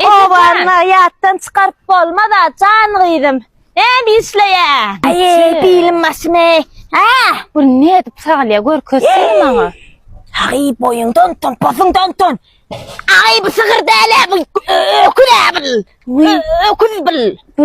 Owanyňy ýatdan çykaryp bolmaz-a, jan gyzym. Näme işleýäň? Aý, bilim başymy. Hä? Bu nädip sagalýar, görkezsene maňa. Aý, boýuňdan utan, posuňdan utan. Aý, bu sygyr däl-ä, bu öküz-ä bul. Öküz bul. Bu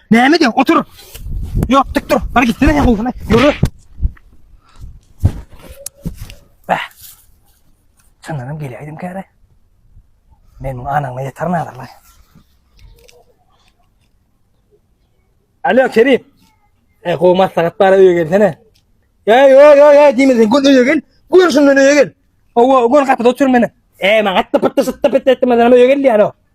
Näme diýen? Otur. Ýok, dik dur. Bar gitsene ýa gowsana. Ýöre. Bah. Çyndanam gelýäýdim käre. Men muň anaňa ýeter nazarlar. Alo Kerim. E gowy maslahat bara öýe gelsene. Ya yo yo yo diýmedin. Gün öýe gel. Gün şundan öýe gel. Owa, gün gapyda otur meni. E maňa atda pytda sytda pytda etmeden öýe gel diýär o.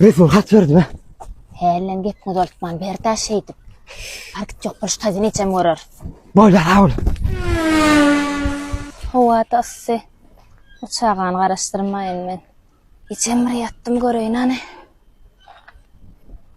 Resul hat berdi mi? Hälem gepini uzaltman berda şeýdip. Bar git ýok boluş taýdan ejem görer. Bolýar sag bol. Howa-da yssy. Bu çagany garaşdyrmaýyn men. Ejem bir ýatdym göreýin hany.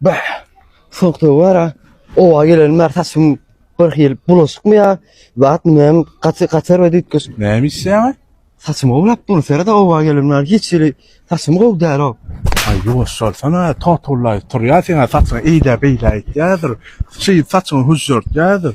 Bah! Soňky wara oba gelenim bar saçym bir hil bulaşykmy ýa zat näme gaty gatar we düýtgeşik. Näme işleýäňä? Saçymy gowlap dur sere-de oba gelenim bar hiç hili saçym gowy däl-ow. Aý ýuwaş bolsana totullaýyp turýar seň-ä saçyňy eýlä-beýlä etýärdir. Şeýdip saçyňy hüžžürtýärdir.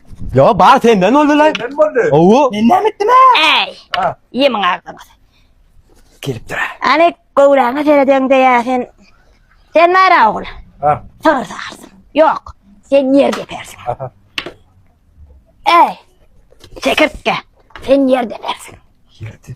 Yo bar senden boldy lan. Senden boldy. Owu. Men näme etdim ha? Äý. Ha. Ýemiň agzyňa. Gelip dur. Ani gowraňa seredýän diýä sen. Sen nära ogul? Ha. Sygyr sagarsyň. Ýok. Sen ýer depersiň. Aha. Äý. Çekirtge. Sen ýer depersiň. Ýerde.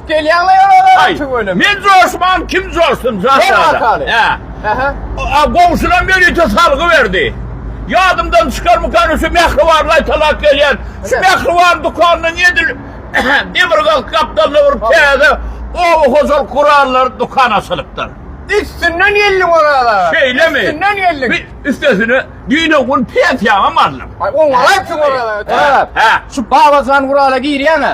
Men joşman, kim joşsun, Şazada? A goňşylar ýörite salgy berdi. Ýadymdan çykarmykan şu mähriban laýtalak gelýän. Şu mähriban dükanyny edil demirgazyk gapdalyna urup täze oba hojalyk gurallary dükan açylypdyr. Üstünden geldim orada. Şeýlemi? Üstünden geldim. Üstesine düýn-ä gün pensiýamam aldym. Oňa gaýtdyň orada. Şu Babajan gurala girýäň-ä.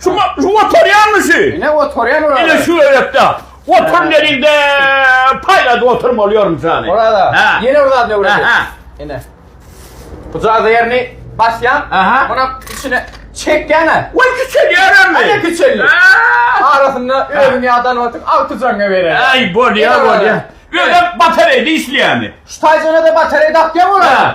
Şu şu oturýanmy şu? Ine oturýan ora. Ine şu öýekde. Otur gelinde paýlady oturmaly ýörüm sany. Orada. Ýene bir zat ne görýän? Ine. Bu jaza ýerini basýan. Munuň içine çekýäne. Oý kiçelýärmi? Ine kiçeldi. Arasynda özüň ýadan wagtyň alty jaňa berer. Aý bolýa bolýa. Özem batareýde işleýärmi? Şu taýjana da batareý dakýa ora.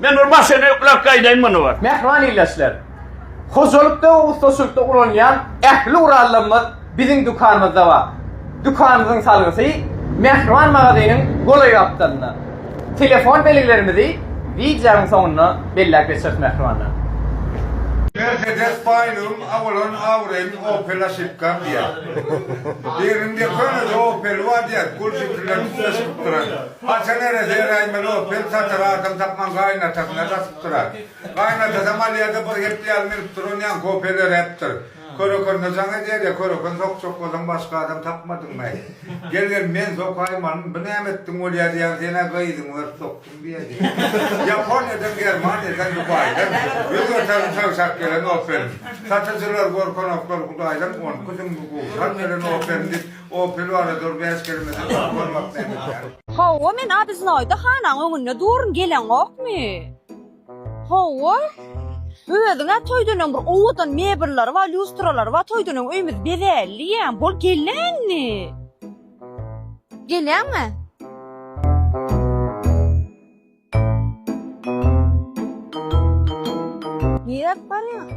Men bir maşyny ýükläp gaýdaýyn muny bir. Mähriban ildeşler! Hojalykda we ussaçylykda ulanýan ähli gurallarymyz biziň dükanymyzda bar. Dükanymyzyň salgysy Mähriban magazynyň golaý gapdalynda. Telefon belgilerimizi wideonyň soňunda belläp geçeris mähribanlar. Mercedes baýlygym a bolan awraýym opel aşypkam diýýär. Birinde könede opeli bar diýýär, gul jipinden üste çykyp duran. Hasan ere seräýmeli bolup, bir satyr adam tapman gaýynatasyna dasyp durar. Gaýynatasam alýa-da, bir gepli ýaly münüp duran ýaňy kofe döräpdir. Körekende jaň edýär ýa, köreken sokjak bolsaň başga adam tapmadyňmy-aý? Gel, gel, men sokaýyn alyn, bu näme etdiň bolýa diýýän, sen-ä gyzyňy berip sokduň diýýär diýip. Ýaponiýadan, Germaniýadan, Dubaýdan ýüz göterim söwşäp gelen oferin. Satyjylar, gorkanoklar, hudaýdan on iki süňňi gowşap beren oferin diýip, Opel bar-a dur bäş kelimesi bar bolmak nämekä. Hawa men obiznoýda hanaň öňünde durun geleňokmy? Hawa. Özüň-ä toýdan öň bir owadan mebellary bar, lýustralary bar, toýdan öň öýümiz bezälli ýa, bol gele indi. Geleňmi? Niräk barýaň?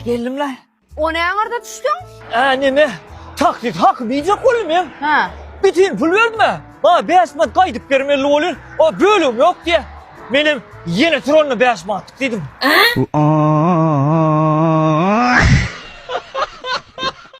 Geldim-le. O näme arda düşdüň? Ä, neme? Taksit haky biýjek boldum men. Hä. Bitin pul berdim-ä. Maňa bäş manat gaýdyp bermeli bolýar. O bölegim ýok diýýär. Menem ýene tur onda bäş manatlyk diýdim.